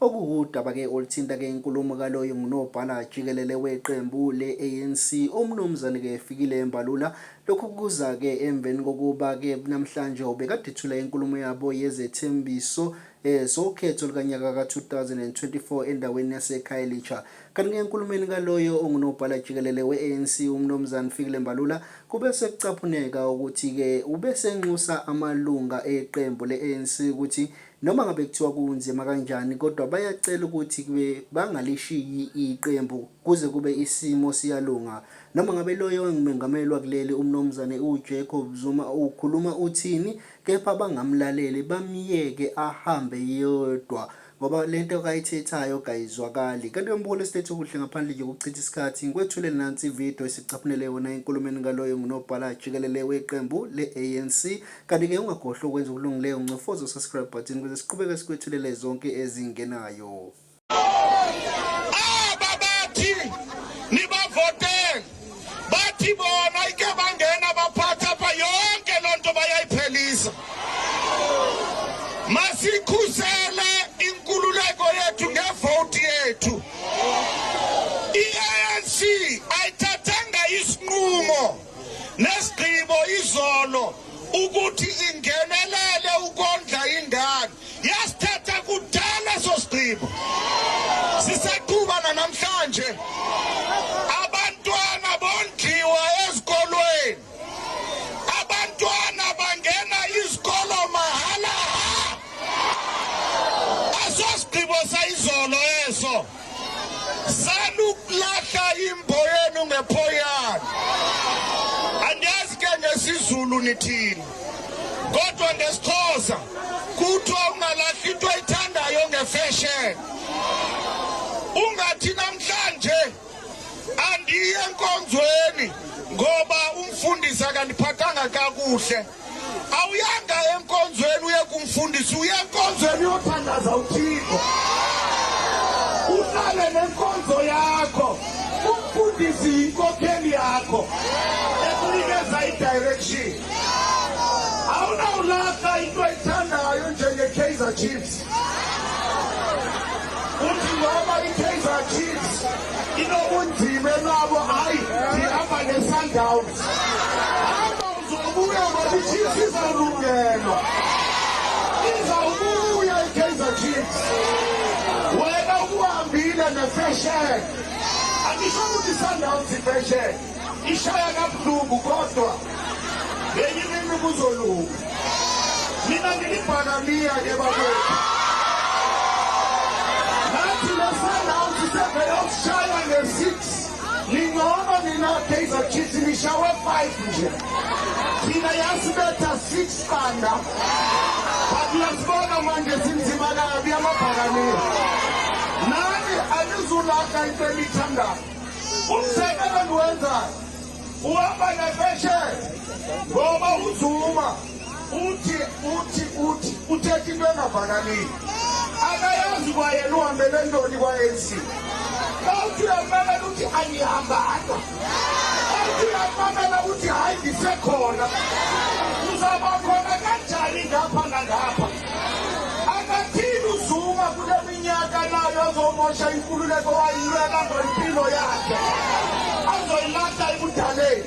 Okuwudaba ke oluthinta ke inkulumo kaloyo ngunobhala jikelele weqembu le-ANC uMnumzane ke Fikile Mbalula. Lokhu kuza ke emveni kokuba ke namhlanje ubekade ethula inkulumo yabo yezethembiso eh, zokhetho lukanyaka ka-2024 endaweni yaseKhayelitsha. Kanti ke enkulumeni kaloyo ongunobhala jikelele we-ANC uMnumzane Fikile Mbalula kube sekucaphuneka ukuthi ke ubesenxusa amalunga eqembu le-ANC ukuthi Noma ngabe kuthiwa kunzima kanjani kodwa bayacela ukuthi kube bangalishiyi iqembu kuze kube isimo siyalunga. Noma ngabe loyo ongumengameli wakuleli uMnumzane uJacob Zuma ukhuluma uthini kepha bangamlaleli bamyeke ahambe yedwa ngoba lento kayithethayo kayizwakali. Kanti umbuko lesilethe okuhle ngaphandle nje kokuchitha isikhathi ngikwethule nansi ivideo esicaphunele yona enkulumeni ngaloyo ngunobhala jikelele weqembu le-ANC Kanti ke ungakhohlwa ukwenza okulungileyo ncofoza usubscribe button ukuze siqhubeke sikwethulele zonke ezingenayo. Aba bathi nibavotele bathi bona ike bangena baphatha apha yonke loo nto bayayiphelisa. Masikhusele inkululeko yethu ngevoti yethu. I-ANC ayithathanga isinqumo. nesigqibo izolo ukuthi ingenelele ukondla ingane yasithatha kudala sosigqibo sisaqhuba nanamhlanje abantwana bondliwa ezikolweni abantwana bangena izikolo mahala asosigqibo sayizolo eso Salukulahla imboyenu ngephoyana. Andazi ke ngesizulu nithini. Kodwa ngesixhosa kuthiwa ungalahli into oyithandayo ngefashion. Ungathi namhlanje andiye enkonzweni ngoba umfundisi akandiphathanga kakuhle. awuyanga enkonzweni uye kumfundisi uye enkonzweni uyothandaza uthixo uhlale nenkonzo yakho umfundisi yinkokheli yakho ekunikeza i-direction awunawulahla into ayithandayo njenge-kaizer chiefs uthi ngoba i-kaizer chiefs inobunzima enabo hhayi ndihamba ne-sundowns Zobuya bathi Chiefs izalungelwa. Izawubuya iKaizer Chiefs. Wena ukuhambile nefashion. Angisho ukuthi iSundowns ifashion. Ishaya kabuhlungu kodwa lenye imini kuzolunga. Mina ngilibhakamiya ke bakwethu. Nathi leSundowns sevele yokushaya nge-six. Ningcono nina Kaizer Chiefs nishawe 5 nje. Thina yasibetha 6 banda. Bakulasiboka manje sinzima kabi amabhakaniya. Nani anizulaka into enithandayo. Umsebenzi wenzayo. Uhamba nefeshe. Ngoba uzuma uthi uthi uthi uthetha into engavalaliyo akayazi kwayena uhambele ntoni kwa-anc awuthi uyamamela uthi angihambanga awuthi uyamamela ukuthi hhayi ngisekhona uzaba khona kanjani ngapha nangapha akathini uzuma kule minyaka nayo azomosha inkululeko wayilwela ngempilo yakhe azoyilahla ekudaleni